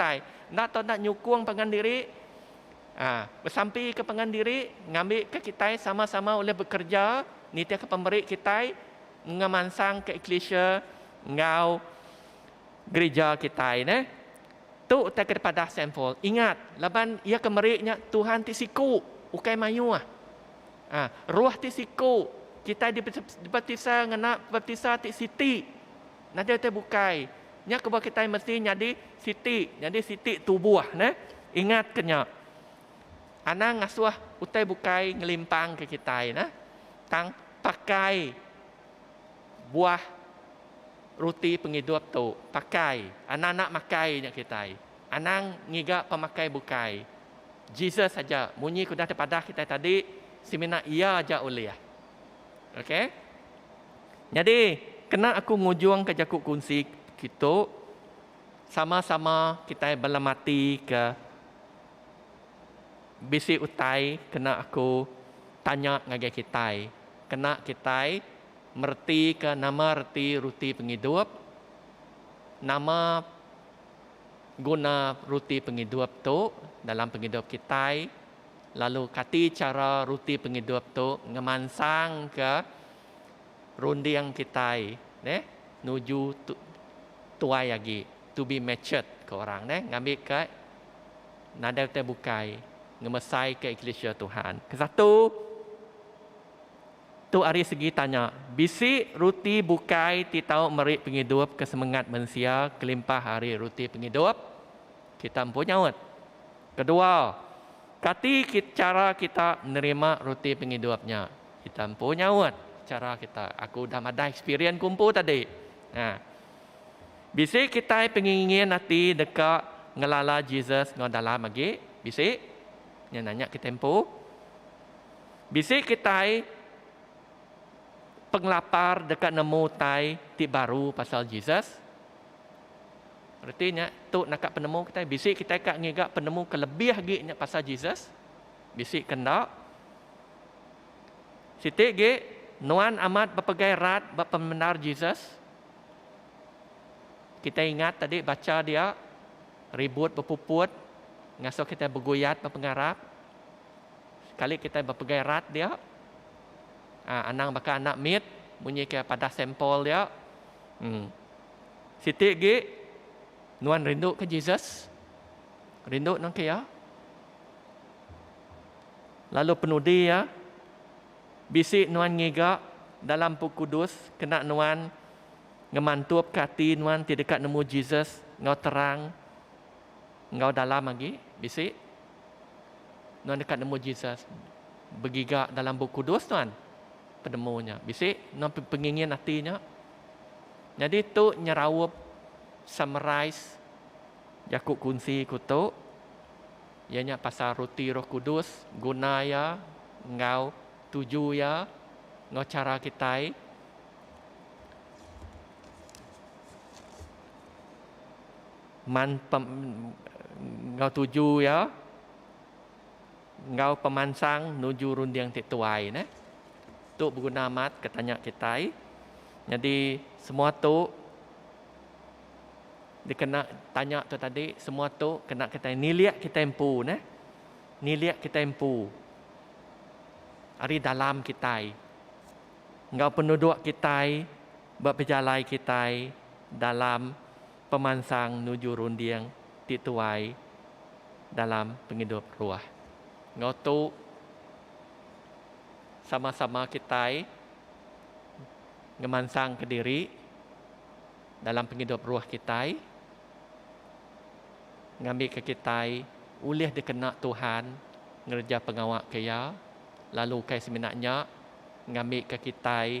Utai, enda tau enda nyukung pangan diri, aa, besampika pangan diri ngambika kitai sama-sama ulih bekereja nitihka pemeri kitai ngemansangka eklisia enggau gerija kitai neh. Tu utai ke dipadah Seinfeld. Ingat, laban iya ke meri nya Tuhan ti siku, ukai mayuh. Aa, Roh ti siku, kitai dibaptisa ngena baptisa ti siti. Nadai utai bukai. Nya kebuah kitai mesti nyadi siti, nyadi siti tubuh neh. Ingatka nya. Anang ngasuh utai bukai ngelimpangka kitai neh. Tang pakai buah ruti pengidup tu. Pakai. Anang enda makai nya kitai. Anang ngiga pemakai bukai. Jesus aja. Munyi ke udah dipadah kitai tadi, semina Iya aja ulih. Okay. Nyadi, kena aku ngujungka jaku kunsi kitu, sama-sama kitai bala mati ke bisi utai kena aku tanya ngagai kitai. Kena kitai meretika nama reti ruti pengidup, nama guna ruti pengidup tu dalam pengidup kitai. lalu kati chara ruti pengidup tu ngemansangka runding kitai neh nuju tuai agi, to be matured ke orang neh ngambika nadai utai bukai ngemesaika eklisia Tuhan. Ke satu, tu ari segi tanya, bisi ruti bukai ti tau meri pengidup ke semengat mensia kelimpah ari ruti pengidup. Kita empu nyaut. Kedua, kati chara kita nerima ruti pengidup nya? Kita empu nyaut. Chara kita, aku udah madah ekspirien ku empu tadi. Nah. Bisi kitai pengingin ati deka ngelala Jesus enggau dalam agi? Bisi. Nya nanya kitai empu. Bisi kitai pengelapar deka nemu utai ti baru pasal Jesus? Reti nya, tu naka penemu kitai. Bisi kitai ka ngiga penemu ke lebih agi nya pasal Jesus, bisi ke enda. Siti agi, nuan amat bepegai rat ba pemendar Jesus. Kitai ingat tadi bacha dia, ribut bepuput ngasuh kitai beguyat ba pengarap. Sekali kitai bepegai rat dia, anang baka anak mit munyi ke padah sampel dia. Em. Siti agi nuan rindu ke Jesus? Rindu nengki iya? Lalu penudi iya? Bisi nuan ngiga dalam Bup Kudus kena nuan ngemantupka ati nuan ti deka nemu Jesus enggau terang enggau dalam agi? Bisi? Nuan deka nemu Jesus begiga dalam Bup Kudus nuan penemu nya. Bisi nuan pengingin ati nya? Nyadi tu nyeraup, summarize, jaku kunsi ku tu iya nya pasal roti roh kudus, guna iya enggau tuju iya enggau chara kitai. Man pem enggau tuju iya. Enggau pemansang nuju runding ti tuai neh. Tu beguna amat ke tanya kitai. Nyadi semua tu dikena tanya tu tadi semua tu kena kitai nilik kitai empu neh. Nilik kitai empu ari dalam kitai enggau penuduk kitai ba pejalai kitai dalam. pemansang nuju runding ti tuai dalam pengidup rua. Enggau tu sama-sama kitai ngemansangka diri dalam pengidup rua kitai ngambika kitai ulih dikena Tuhan ngereja pengawa ke Iya lalu ukai semina nya ngambika kitai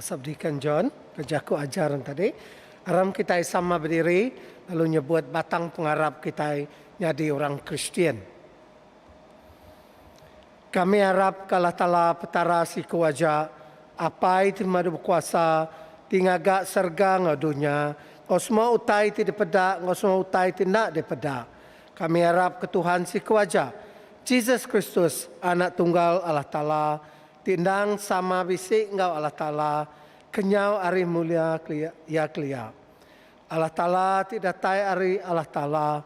Subdeacon John bejaku ajar nya tadi, Aram kitai sama bediri lalu nyebut batang pengarap kitai nyadi orang Kristian. Kami arap ke Allah Taala Petara siku aja, Apai ti Madu Bekuasa ti ngaga serega enggau dunya, enggau semua utai ti dipeda enggau semua utai ti enda dipeda. Kami arap ke Tuhan siku aja, Jesus Kristus, Anak Tunggal Allah Taala, Ti endang sama bisi enggau Allah Taala kenyau ari mulia Iya kelia. Allah Taala ti datai ari Allah Taala,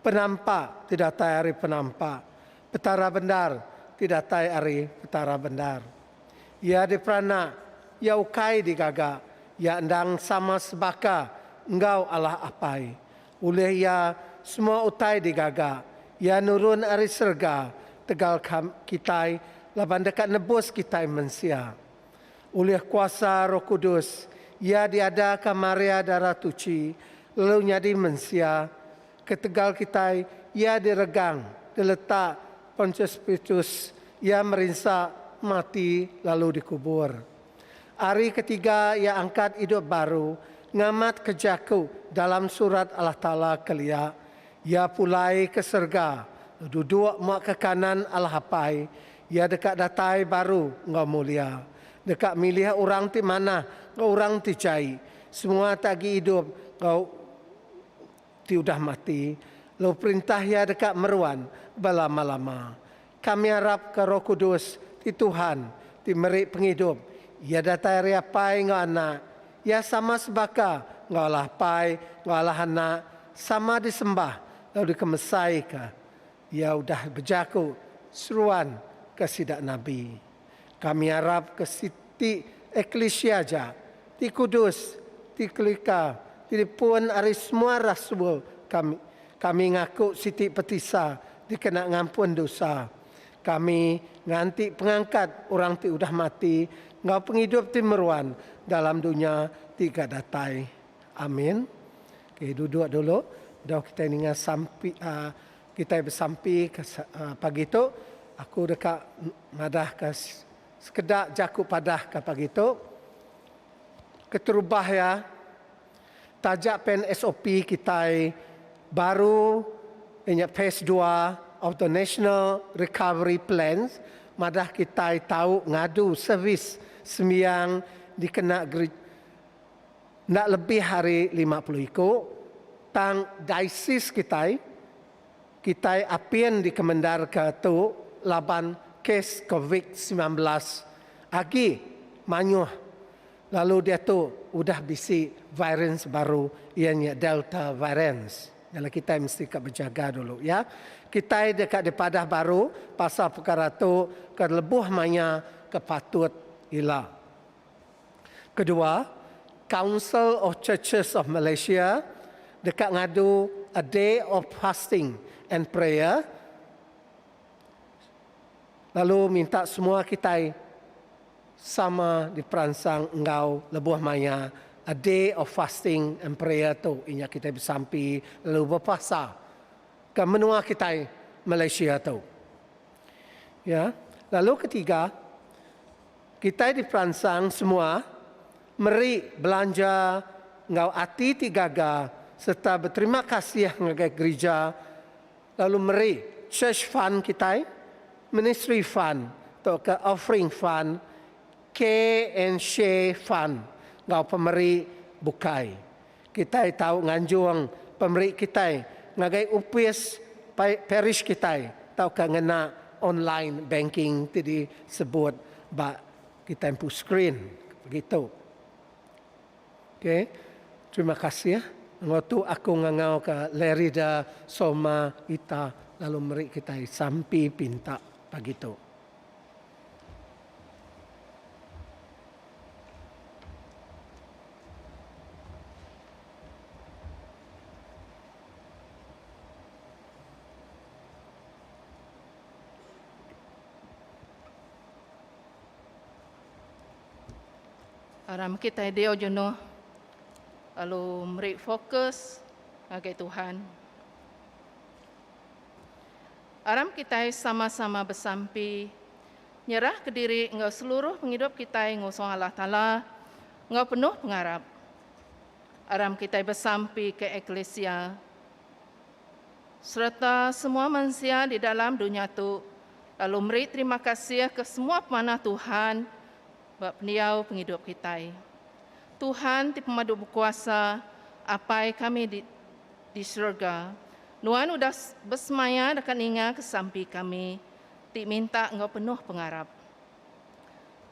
Penampa ti datai ari Penampa, Petara bendar ti datai ari Petara bendar. Iya diperanak, Iya ukai digaga, Iya endang sama sebaka enggau Allah Apai, Ulih iya semua utai digaga iya nurun ari serega tegal kitai laban deka nebus kitai mensia. Ulih kuasa Roh Kudus iya diadaka Maria Darah Tuchi lalu nyadi mensia. Ketegal kitai iya diregang geletak Pontius Pitus iya merinsa, mati lalu dikubur. Ari ketiga iya angkat idup baru ngamatka jaku dalam Surat Allah Taala kelia, Iya pulai ke serega, duduk mua ke kanan Allah Apai, Iya deka datai baru enggau mulia, deka milih orang ti manah enggau orang ti jai, semua ti agi idup enggau. Ti udah mati, lalu perintah iya deka meruan belama-lama. Kami arapka Roh Kudus ti Tuhan ti meri pengidup iya datai ari Apai enggau Anak. Iya sama sebaka enggau Allah Apai enggau Allah Anak, sama disembah lalu dikemesaika. Iya udah bejaku seruan ke sida nabi. Kami arap ke siti eklisia aja ti kudus, ti kelika, ti dipun ari semua rasul kami. Kami ngaku siti petisa dikena ngampun dosa. Kami nganti pengangkat orang ti udah mati enggau pengidup ti meruan dalam dunya ti ga datai. Amin. Okey, duduk dulu. Doh kitai ninga sampi, aa, Kitai besampi ke pagi tu aku deka madah ke sekeda ja ku padah ke pagi tu keterubah iya taja pen sop kitai baru inya phase dua of the national recovery plans madah kitai tau ngadu servis sembiang dikena Enda lebih ari lima puluh iku tang daisis kitai, kitai apin dikemendarka tu laban kes covid semilan belas agi mayuh lalu diatu udah bisi varians baru iya nya Delta varians. Nyala kitai mesti ka bejaga dulu iya. Kitai deka dipadah baru pasal pekara tu ke lebuh maya ke patut ila. Kedua, Council of Churches of Malaysia deka ngadu A Day of Fasting and Prayer lalu minta semua kitai sama diperansang enggau lebuh maya A Day of Fasting and Prayer tu inya kitai besampi lalu bepuasa ke menua kitai Malaysia tu. Iya. Lalu ketiga, Kitai diperansang semua meri belanja enggau ati ti gaga sereta beterima kasih ngagai gerija lalu meri Church Fund kitai, Ministry Fund tauka Offering Fund, Care and Share Fund enggau pemeri bukai. Kitai tau nganjung pemeri kitai ngagai opis parish kitai tauka ngena online banking ti disebut ba kitai empu skrin begitu. Ok. Terima kasih enggau tu aku ngangauka Lerida Soma Ita lalu meri kitai sampi pinta pagi tu. Aram mekit tai diau jenuh lalu meri fokus ngagai Tuhan. Aram kitai sama-sama besampi nyerah ke diri enggau seluruh pengidup kitai ngusung Allah Taala enggau penuh pengarap. Aram kitai besampi ke eklisia sereta semua mensia di dalam dunya tu lalu meri terima kasih ke semua pemanah Tuhan ba pendiau pengidup kitai. Tuhan ti Pemadu Bekuasa, Apai kami di. Di serega, Nuan udah besemaya deka ninga kesampi kami ti minta enggau penuh pengarap.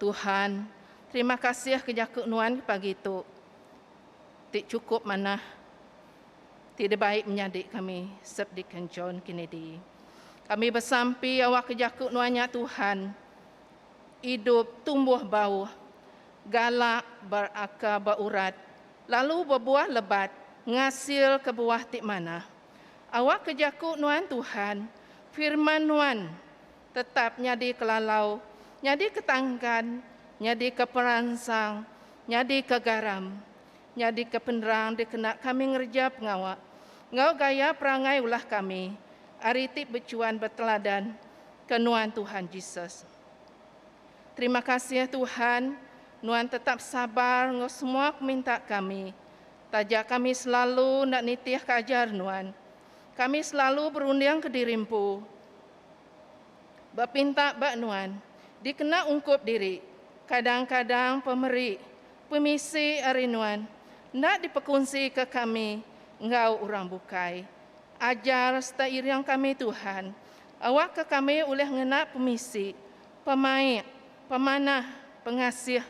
Tuhan, terima kasih ke jaku Nuan ke pagi tu ti chukup manah ti dibai menyadi kami, Sep Deacon John Kennedy. Kami besampi awakka jaku Nuan nya Tuhan, idup, tumbuh bauh, galak, berakar, beurat, Lalu bebuah lebat ngasil ke buah ti manah. Awak ke jaku nuan Tuhan, firman nuan tetap nyadi ke lalau, nyadi ke tangkan, nyadi ke peransang, nyadi ke garam, nyadi ke penerang dikena kami ngereja pengawa enggau gaya perangai ulah kami ari ti bechuan beteladan ke nuan Tuhan Jesus. Terima kasih Tuhan, Nuan tetap sabar enggau semua ke minta kami. Taja kami selalu enda nitih ke ajar Nuan. Kami selalu berunding ke diri empu. Ba pinta ba Nuan, dikena ungkup diri. Kadang-kadang pemeri, pemisi ari Nuan enda dipekunsi ke kami enggau orang bukai. Ajar serta iring kami Tuhan. Awakka kami ulih ngena pemisi, pemaik, pemanah, pengasih,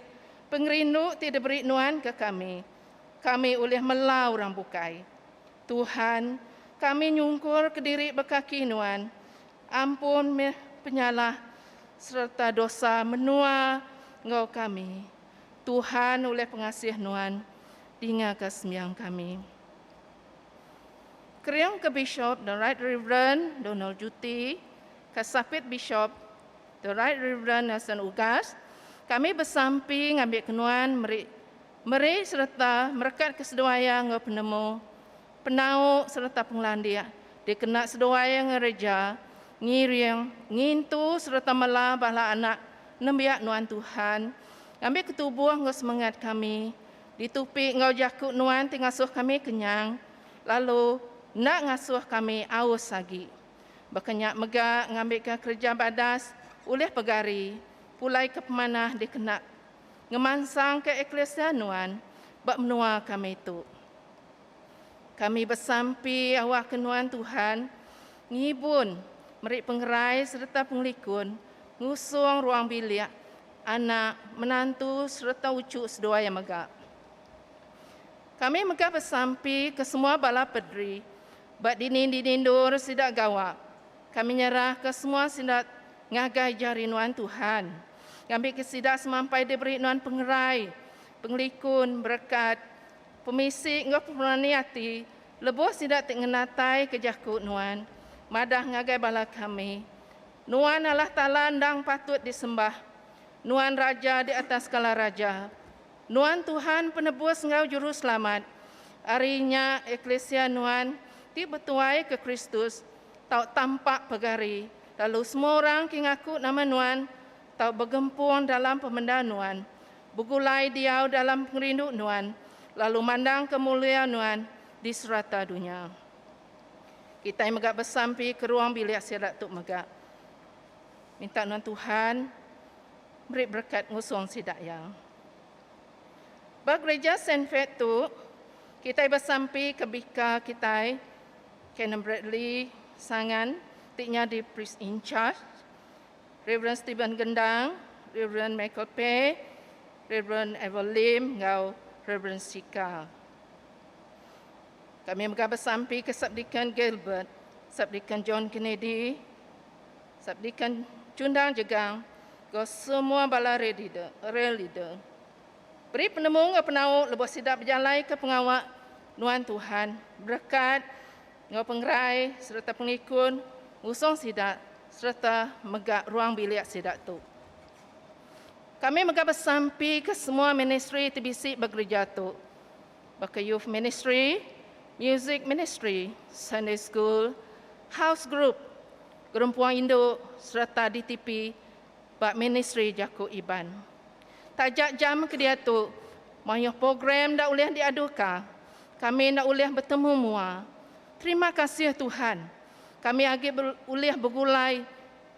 pengerindu ti diberi Nuan ke kami. Kami ulih mela orang bukai. Tuhan, kami nyungkur kediri ba kaki Nuan. Ampun meh penyalah sereta dosa menua enggau kami. Tuhan ulih pengasih Nuan, dingaka sembiang kami. Kering ke Bishop The Right Reverend Donald Juti, ke Sapit Bishop The Right Reverend Nelson Ugas, kami besampi ngambika nuan meri meri sereta merekat ke seduai iya enggau penemu, penau sereta pengelandik dikena seduai iya ngereja, ngiring, ngintu sereta mela bala anak nembiak nuan Tuhan ngambika tubuh enggau semengat kami Ditupi enggau jaku nuan ti ngasuh kami kenyang, lalu enda ngasuh kami aus agi. Baka nya mega ngambika kereja badas ulih pegari pulai ke pemanah dikena ngemansangka eklisia nuan ba menua kami tu. Kami besampi awakka nuan Tuhan ngibun meri pengerai sereta pengelikun ngusung ruang bilik Anak, menantu sereta uchu seduai iya mega. Kami mega besampi ke semua bala pederi ba dinding-dinding endur sida gawa. Kami nyerahka semua sida ngagai jari nuan Tuhan ngambika sida semampai diberi nuan pengerai, pengelikun, berekat, pemisi enggau pemerani ati lebuh sida ti ngenataika jaku nuan madah ngagai bala kami. Nuan Allah Taala endang patut disembah. Nuan Raja di atas segala raja. Nuan Tuhan Penebus enggau Juru Selamat. Ari nya eklisia Nuan ti betuaika Kristus tau tampak pegari, lalu semua orang ti ngaku nama Nuan tau begempung dalam pemendar Nuan, begulai diau dalam pengerindu Nuan, lalu mandangka mulia Nuan di serata dunya. Kitai mega besampi ke ruang bilik sida tu mega. Minta nuan Tuhan meri berekat ngusung sida iya. Ba Gerija Saint Fate tu, kitai besampi ke bika kitai, Canon Bradley Sangan ti nyadi Priest in Charge, Rev. Stephen Gendang, Rev. Michael Pei, Rev. Ever Lim enggau Rev. Sika. Kami mega besampi ke Subdekan Gilbert, Subdekan John Kennedy, Subdekan Chundang Jegang enggau semua bala Rail Leader, Rail Leader. Beri penemu enggau penau lebuh sida bejalaika pengawa nuan Tuhan, berekat enggau pengerai sereta pengikun ngusung sida sereta mega ruang bilik sida tu. Kami mega besampi ke semua ministri ti bisi ba gereja tu. baka Youth Ministry, Music Ministry, Sunday School, House Group, Gerempuang Indu sereta DTP ba Ministri Jaku Iban. Taja jam ke diatu, mayuh program enda ulih diaduka. Kami enda ulih betemu mua. Terima kasih Tuhan, kami agi ulih begulai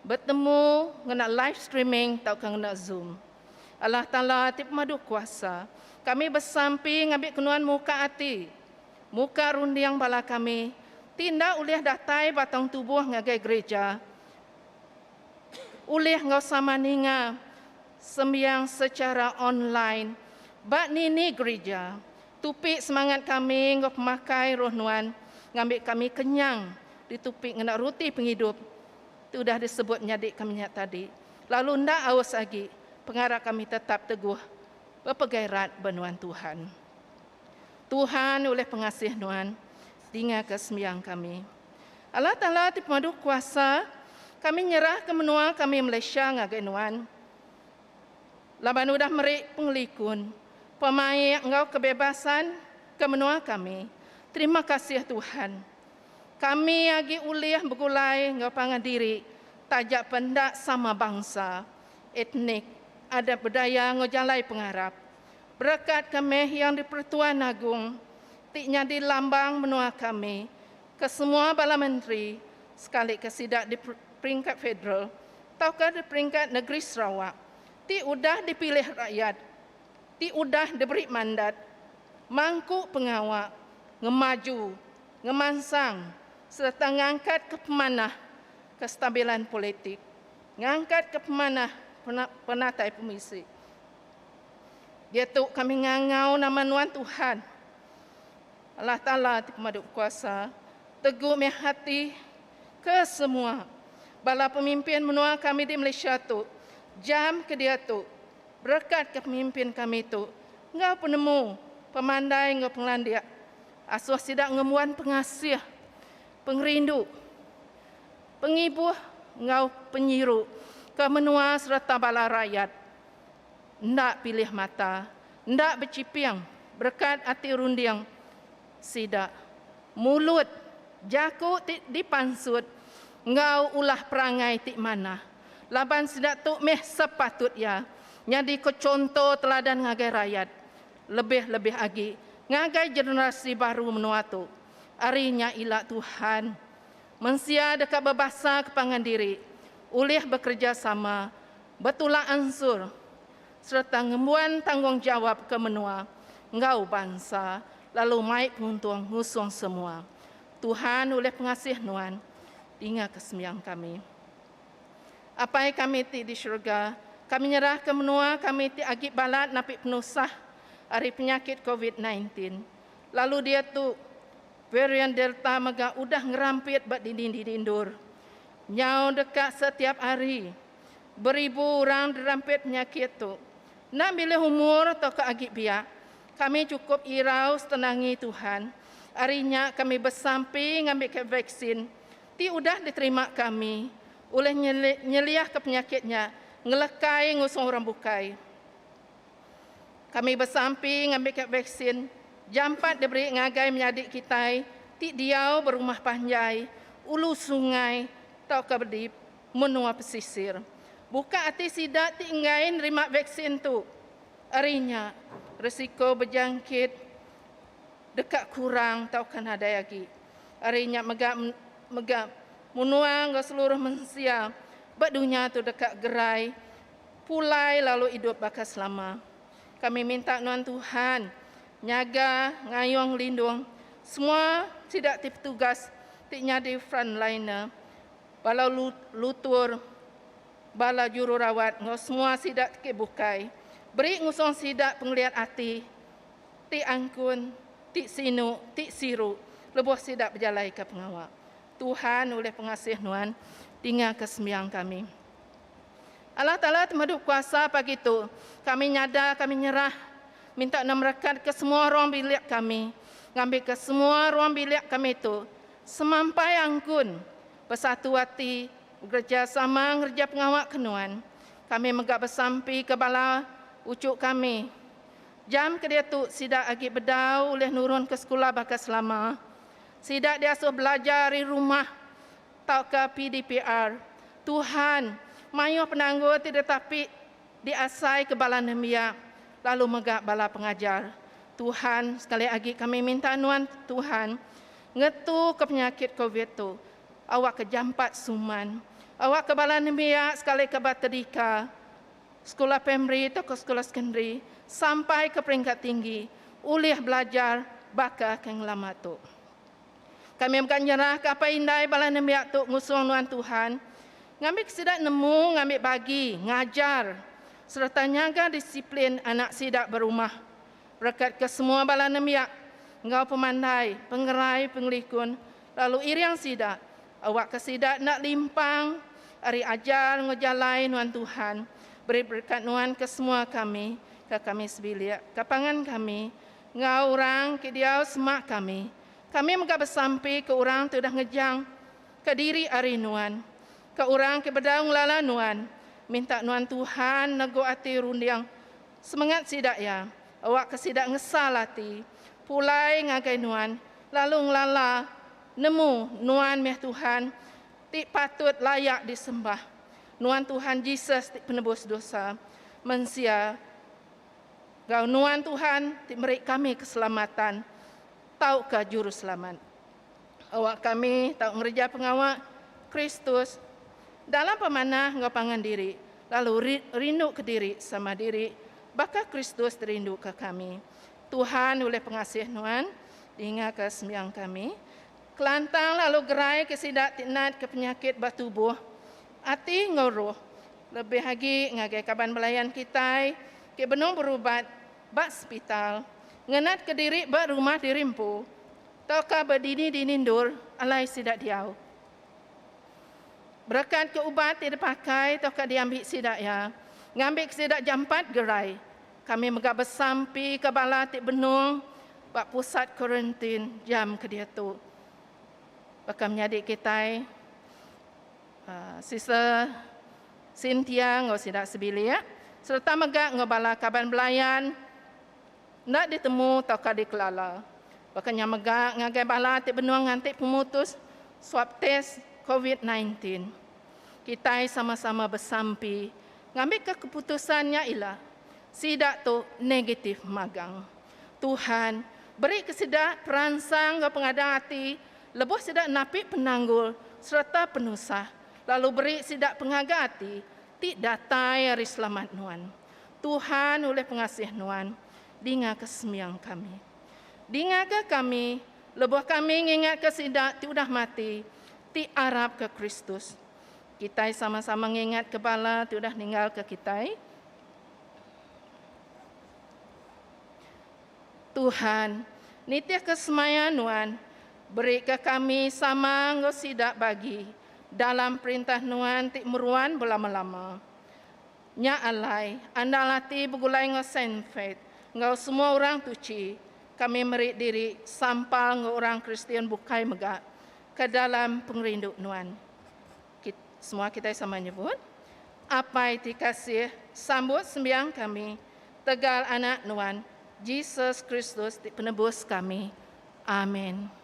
betemu ngena live streaming tauka ngena Zoom. Allah Taala ti pemadu kuasa, kami besampi ngambika Nuan muka ati, muka runding bala kami ti enda ulih datai ba taun tubuh ngagai gerija ulih enggau sama ninga sembiang sechara online ba nini gerija. Tupi semangat kami enggau pemakai Roh Nuan ngambika kami kenyang ditupi ngena ruti pengidup. Ti udah disebut nyadi kami nya tadi, lalu enda aus agi, pengarap kami tetap teguh bepegai rat ba nuan Tuhan. Tuhan ulih pengasih nuan dingaka sembiang kami. Allah Taala ti pemadu kuasa, kami nyerahka menua kami Malaysia ngagai nuan. Laban udah meri pengelikun, pemaik enggau kebebasan ke menua kami. Terima kasih Tuhan. Kami agi ulih begulai enggau pangan diri taja pen enda sama bangsa, etnik, adat budaya enggau jalai pengarap. Berekat ke meh Yang di-Pertuan Agong ti nyadi lambang menua kami, ke semua bala menteri sekalika sida di peringkat federal tauka di peringkat negeri Sarawak ti udah dipilih rakyat ti udah diberi mandat mangku pengawa ngemaju ngemansang sereta ngangkatka pemanah kestabilan politik, ngangkatka pemanah penatai pemisi. Diatu kami ngangau nama nuan Tuhan, Allah Taala ti Pemadu Bekuasa, tegu mih ati ke semua bala pemimpin menua kami di Malaysia tu jam ke diatu berekatka pemimpin kami tu enggau penemu, pemandai enggau pengelandik. Asuh sida ngembuan pengasih, pengerindu, pengibuh enggau penyiru ke menua sereta bala rayat enda pilih mata, enda bechiping berekat ati runding sida, mulut, jaku ti dipansut enggau ulah perangai ti manah laban sida tu meh sepatut iya nyadika chunto teladan ngagai rayat. lebih-lebih agi ngagai generasi baru menua tu. Ari nya ila Tuhan, mensia deka bebasaka pangan diri ulih bekerejasama betulak ansur sereta ngembuan tanggungjawap ke menua enggau bansa lalu mai penguntung ngusung semua. Tuhan ulih pengasih nuan. Dinga kesembiang kami. Apai kami ti di serega, kami nyerahka menua kami ti agi balat napi penusah ari penyakit covid nine tin. Lalu diatu, varian Delta mega udah ngerampit ba dinding-dinding endur. Nyau deka setiap hari, beribu orang dirampit penyakit tu. Enda milih umur tauka agi biak, kami chukup irau setenangi Tuhan. Ari nya kami besampi ngambika vaksin ti udah diterima kami ulih nyeliahka penyakit nya ngelekai ngusung orang bukai. Kami besampi ngambika vaksin jampat diberi ngagai menyadi kitai ti diau ba rumah panjai, ulu sungai tauka di menua pesisir. Buka ati sida ti enggai nerima vaksin tu, ari nya resiko bejangkit deka kurang tauka nadai agi. Ari nya mega mega munua enggau seluruh mensia ba dunya tu deka gerai pulai lalu idup baka selama. Kami minta nuan Tuhan nyaga ngayuh ngelindung semua sida ti petugas ti nyadi frontliner, bala lutur, bala jururawat enggau semua sida ti ke bukai. Beri ngusung sida pengeliat ati. ti angkun, ti sinu, ti siru lebuh sida bejalaika pengawa. Tuhan ulih pengasih nuan tingaka sembiang kami. Allah Taala temadu kuasa pagi tu. Kami nyada kami nyerah minta nuan merekatka semua ruang bilik kami ngambika semua ruang bilik kami tu semampai angkun, besatu ati, begerejasama ngereja pengawa ke nuan. Kami mega besampika bala uchu kami Jam kediatu sida agi bedau ulih nurun ke sekula baka selama. Sida diasuh belajar ari rumah tauka PDPR. Tuhan mayuh penanggul ti ditapi diasaika bala nembiak lalu mega bala pengajar. Tuhan, sekali agi kami minta nuan Tuhan ngetuka penyakit covid tu awakka jampat suman. Awakka bala nembiak sekalika ba tedika. sekula primari tauka sekula sekondari sampai ke peringkat tinggi ulih belajar baka ke ngelama tu. Kami mega nyerahka apai indai bala nembiak tu ngusung nuan Tuhan ngambika sida nemu ngambi bagi ngajar sereta nyaga disiplin anak sida berumah. Berekatka semua bala nembiak enggau pemandai, pengerai, pengelikun lalu iring sida Awakka sida enda limpang ari ajar enggau jalai nuan Tuhan. Beri berekat nuan ke semua kami, ke kami sebilik, ke pangan kami, enggau orang ke diau semak kami. Kami mega besampi ke orang ti udah ngejang ka diri ari nuan, ka orang ke bedau ngelala nuan. Minta nuan Tuhan nego ati runding semengat sida iya. Awakka sida ngesal ati pulai ngagai nuan lalu ngelala Nemu nuan meh Tuhan ti patut layak disembah. Nuan Tuhan Jesus ti penebus dosa mensia gau nuan Tuhan ti meri kami keselamatan tauka juruselamat. Awak kami tau ngereja pengawa Kristus dalam pemanah enggau pangan diri lalu rinduka diri sama diri baka Kristus rinduka kami. Tuhan ulih pengasih nuan, dingaka sembiang kami. Kelantang lalu gerai ke sida ti nat ke penyakit ba tubuh, ati enggau roh, lebih agi ngagai kaban belayan kitai ke benung berubat ba sepital, ngenatka diri ba rumah diri empu, tauka ba dini-dini endur alai sida diau. Berekatka ubat ti dipakai tauka diambi sida iya, ngambika sida jampat gerai. Kami mega besampika bala ti benung ba pusat kuarantin jam ke diatu. Baka menyadi kitai, Sister Cynthia enggau sida sebilik sereta mega enggau bala kaban belayan enda ditemu tauka dikelala. Baka nya mega ngagai bala ti benung nganti pemutus swab test covid nineteen. Kitai sama-sama besampi Ngambika keputusan nya ila sida tu negatif magang. Tuhan berika sida peransang enggau pengadang ati lebuh sida napi penanggul sereta penusah lalu beri sida pengaga ati ti datai ari selamat nuan. Tuhan ulih pengasih nuan. Dingaka sembiang kami. Dingaka kami lebuh kami ngingatka sida ti udah mati ti arapka Kristus. Kitai sama-sama ngingatka bala ti udah ninggalka kitai. Tuhan, nitihka semaya Nuan. Berika kami sama enggau sida bagi dalam Perintah Nuan ti meruan belama-lama. Nya alai, andal ati begulai enggau Saint Faith enggau semua orang tuchi, kami meri diri sampal enggau orang Kristian bukai mega Ke dalam pengerindu nuan. Kit, semua kitai sama nyebut. Apai ti kasih, sambut sembiang kami tegal Anak nuan, Jesus Kristus ti Penebus kami. Amin.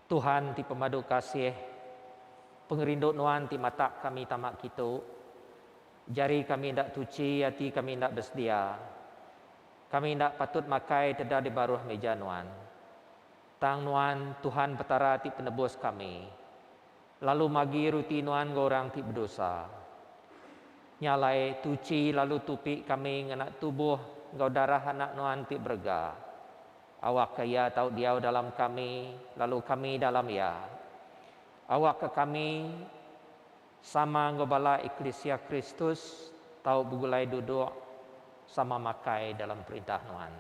Tuhan ti pemadu kasih, pengerindu Nuan ti matak kami tama kitu. Jari kami enda tuchi ati kami enda besedia. Kami enda patut makai teda di baruh meja Nuan. Tang Nuan, Tuhan Petara ti penebus kami, lalu magi ruti Nuan enggau orang ti bedosa. Nya alai, tuchi lalu tupi kami ngena tubuh enggau darah Anak Nuan ti berega. Awakka Iya tau diau dalam kami, lalu kami dalam Iya. Awakka kami, sama enggau bala eklisia Kristus, tau begulai duduk sama makai dalam perintah Nuan.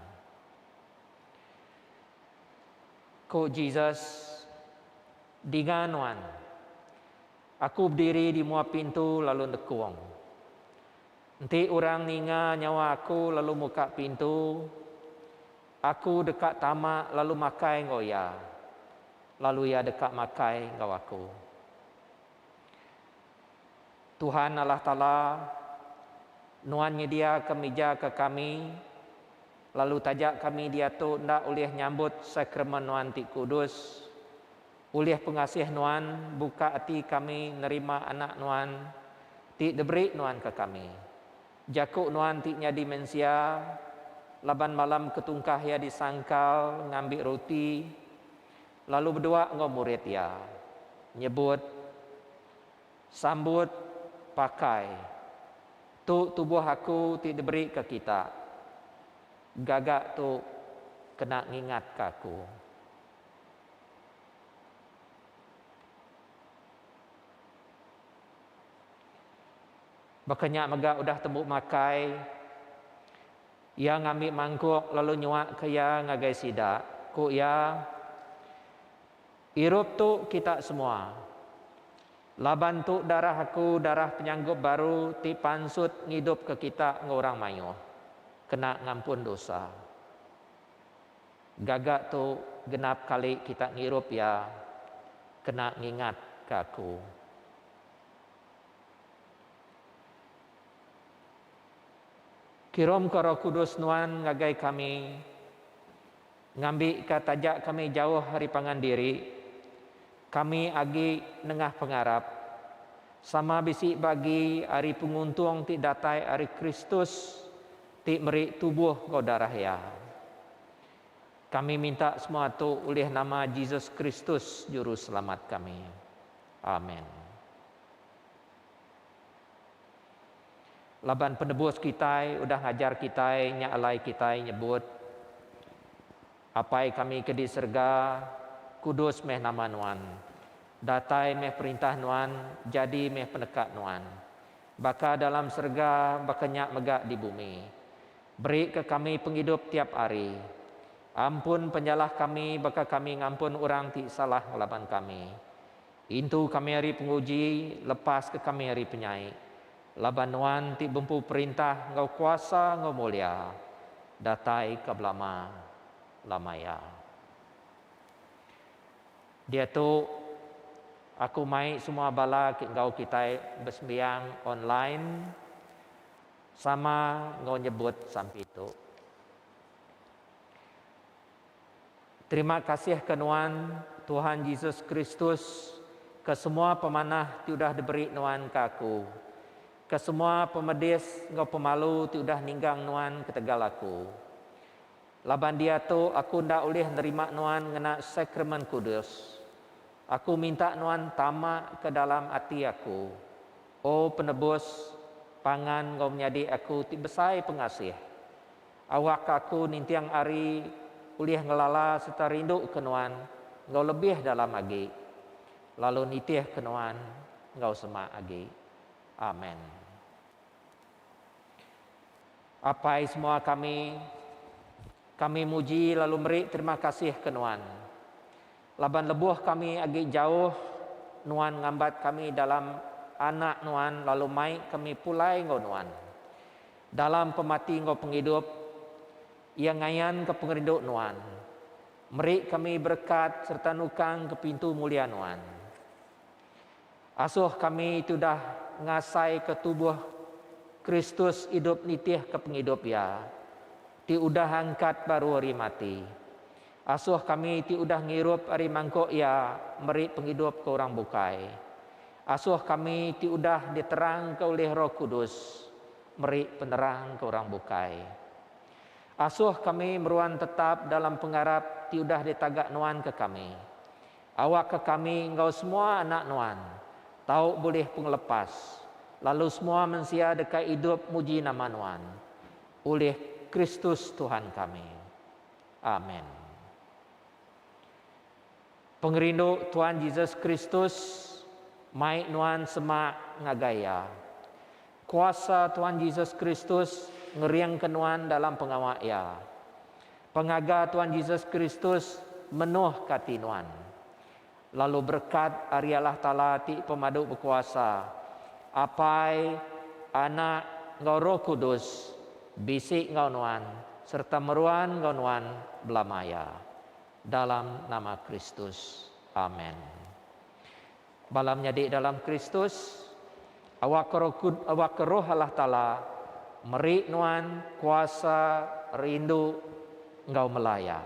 Ku Jesus, Dinga Nuan, Aku bediri di mua pintu lalu nekung. Enti orang ninga nyawa Aku lalu muka pintu, Aku deka tama lalu makai enggau iya, lalu iya deka makai enggau Aku. Tuhan Allah Taala, Nuan nyediaka mija ke kami, lalu taja kami diatu enda ulih nyambut sakramen Nuan ti kudus, Ulih pengasih Nuan buka ati kami nerima anak Nuan ti diberi Nuan ke kami. Jaku Nuan ti nyadi mensia, laban malam ke tungkah iya disangkal ngambi ruti lalu bedua enggau murid iya, nyebut, Sambut, pakai, tu tubuh aku ti diberi ke kita. Gaga tu kena ngingatka aku. Baka nya mega udah tembu makai, iya ngambi mangkuk lalu nyuaka iya ngagai sida. Ku iya, Irup tu kita semua, laban tu darah aku, darah penyanggup baru ti pansut ngidupka kita enggau orang mayuh, kena ngampun dosa. Gaga tu genap kali kita ngirup iya kena ngingat ka aku. Kirumka Roh Kudus nuan ngagai kami ngambika taja kami jauh ari pangan diri, kami agi nengah pengarap sama bisi bagi ari penguntung ti datai ari Kristus. Ti meri tubuh enggau darah Iya. Kami minta semua tu ulih nama Jesus Kristus Juru Selamat kami. Amen. Laban penebus kitai udah ngajar kitai nya alai kitai nyebut. Apai kami ke di serega, kudus meh nama Nuan. Datai meh perintah Nuan, jadi meh peneka Nuan. Baka dalam serega, baka nya mega di bumi. Berika kami pengidup tiap hari. Ampun penyalah kami baka kami ngampun orang ti salah ngelaban kami. Intu kami ari penguji, lepaska kami ari penyai, laban Nuan ti bempu perintah enggau kuasa enggau mulia, datai ka belama lamaya. Diatu, aku mai semua bala ke enggau kitai besembiang online sama enggau nyebut sampi tu. Terima kasih ke nuan Tuhan Jesus Kristus ke semua pemanah ti udah diberi nuan ke aku, ke semua pemedis enggau pemalu ti udah ninggang nuan ketegal aku. Laban diatu aku enda ulih nerima nuan ngena Sakramen Kudus. Aku minta nuan tama ke dalam ati aku, O Penebus, pangan enggau menyadi aku ti besai pengasih. Awak aku ninting ari ulih ngelala sereta rinduka nuan enggau lebih dalam agi, lalu nitihka nuan enggau semak agi. Amen. Apai semua kami, kami muji lalu meri terima kasih ke nuan, laban lebuh kami agi jauh, nuan ngambat kami dalam Anak nuan lalu mai kami pulai enggau nuan. Dalam pemati enggau pengidup, Iya ngayanka pengerindu Nuan, meri kami berekat sereta nukangka pintu mulia Nuan. Asuh kami tudah ngasaika tubuh Kristus idup nitihka pengidup Iya ti udah angkat baru ari mati. Asoh kami ti udah ngirup ari mangkok Iya meri pengidup ke orang bukai. Asoh kami ti udah diterangka ulih Roh Kudus meri penerang ke orang bukai. Asoh kami meruan tetap dalam pengarap ti udah ditaga Nuan ke kami. Awakka kami enggau semua anak Nuan tau bulih pengelepas lalu semua mensia deka idup muji nama Nuan ulih Kristus Tuhan kami. Amen. Pengerindu Tuan Jesus Kristus mai nuan semak ngagai Iya. Kuasa Tuan Jesus Kristus ngeringka nuan dalam pengawa Iya. Pengaga Tuan Jesus Kristus menuhka ati nuan. Lalu berekat ari Allah Taala ti pemadu bekuasa, Apai, Anak, enggau Roh Kudus, bisi enggau nuan sereta meruan enggau nuan belamaya. Dalam nama Kristus. Amen. Bala menyadi dalam Kristus, awakka Roh Allah Taala meri nuan kuasa, rindu, enggau melaya.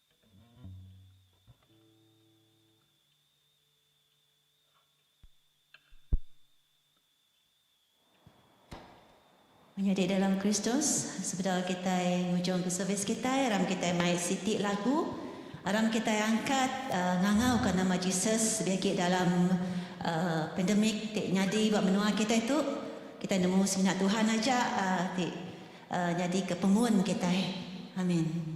Menyadi dalam Kristus, sebedau kitai ngujungka servis kitai, aram kitai mai siti lagu, aram kitai angkat ngangauka nama Jesus lebih agi dalam pandemik ti nyadi ba menua kitai tu. Kitai nemu semina Tuhan aja ti nyadika pemun kitai. Amin.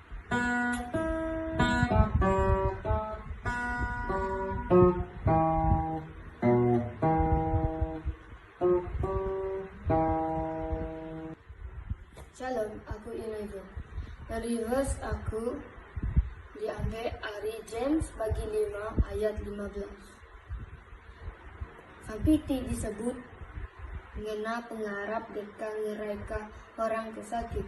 Shalom, aku Iraidho. Reverse aku diambil ari James bagi lima ayat lima belas. Api ti disebut ngena pengarap deka ngeraika orang ke sakit.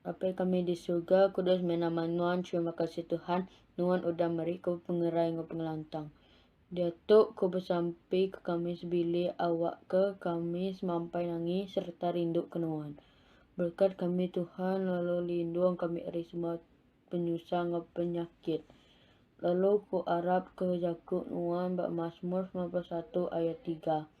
Bapa kami di surga, kudus meh nama Nuan. Terima kasih Tuhan, Nuan udah meri ku pengerai enggau pengelantang. Diatu ku besampi ke kami sebilik awak ke kami semampai nangi sereta rindu ke Nuan. Berkat kami Tuhan lalu lindung kami ari semua penyusah enggau penyakit. Lalu ku arap ke jaku Nuan ba Masmur 91 ayat 3.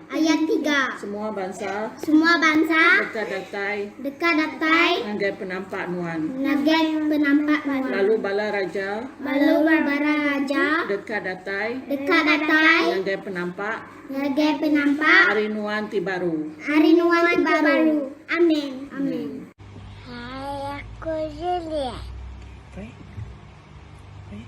Ayat tiga. Semua bansa. Semua bansa. Deka datai. Deka datai. Ngagai penampak nuan. Ngagai penampak nuan. Lalu bala raja. Lalu bala raja. Deka datai. Deka datai. Ngagai penampak. Ngagai penampak. Ari nuan ti baru. Ari nuan ti baru. Amen. Amen. Hai aku Juliet. Baik. Baik.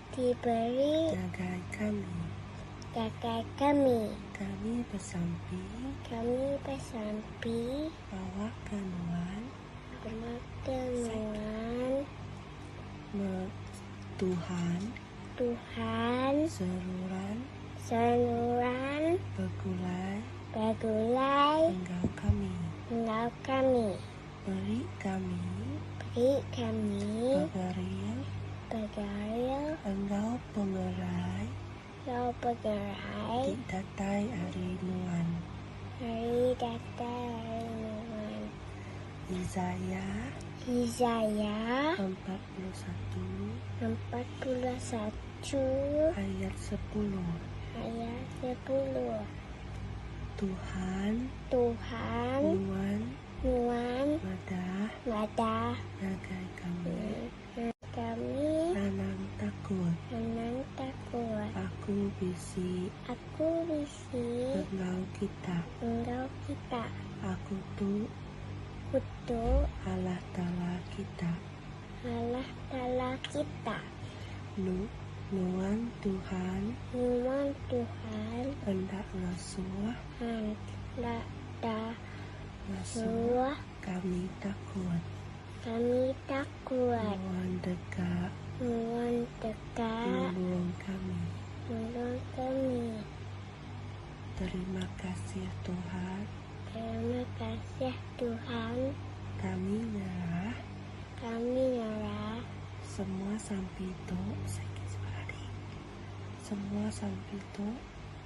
Diberi. Ngagai kami. Ngagai kami. Kami besampi. Kami besampi. Bawa ke nuan. Bawa ke nuan. Me Tuhan. Tuhan. Seruran. Seruran. Begulai. Begulai. Enggau kami. Enggau kami. Beri kami. Beri kami. Pegeril. Pegeril. Enggau pengerai. Enggau pengerai. Ti datai ari nuan. Ari datai ari nuan. Izaya. Izaya. Empat puluh satu. Empat puluh satu. Ayat sepuluh. Ayat sepuluh. Tuhan. Tuhan. Nuan. Nuan. Madah. Madah. Ngagai kami. Ngagai kami. Anang takut. Anang takut. Aku bisi. Aku bisi. Enggau kita. Enggau kita. Aku tu. Aku tu. Allah Taala kita. Allah Taala kita. Nu. Nuan Tuhan. Nuan Tuhan. Enda ngasuh. Enda. Masuk kami takut. Kami takut. Nuan deka. Nuan deka. Nulung kami. Nulung kami. Terima kasih Tuhan. Terima kasih Tuhan. Kami nyerah. Kami nyerah. Semua sampi tu. Semua sampi tu.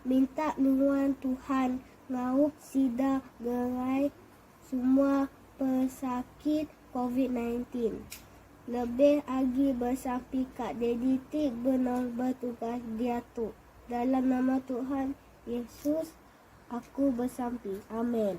Minta nuan Tuhan ngaup sida ngerai semua pesakit covid nineteen. Lebih agi besampi ka Daddy ti benong betugas diatu. Dalam nama Tuhan Yesus aku besampi. Amen.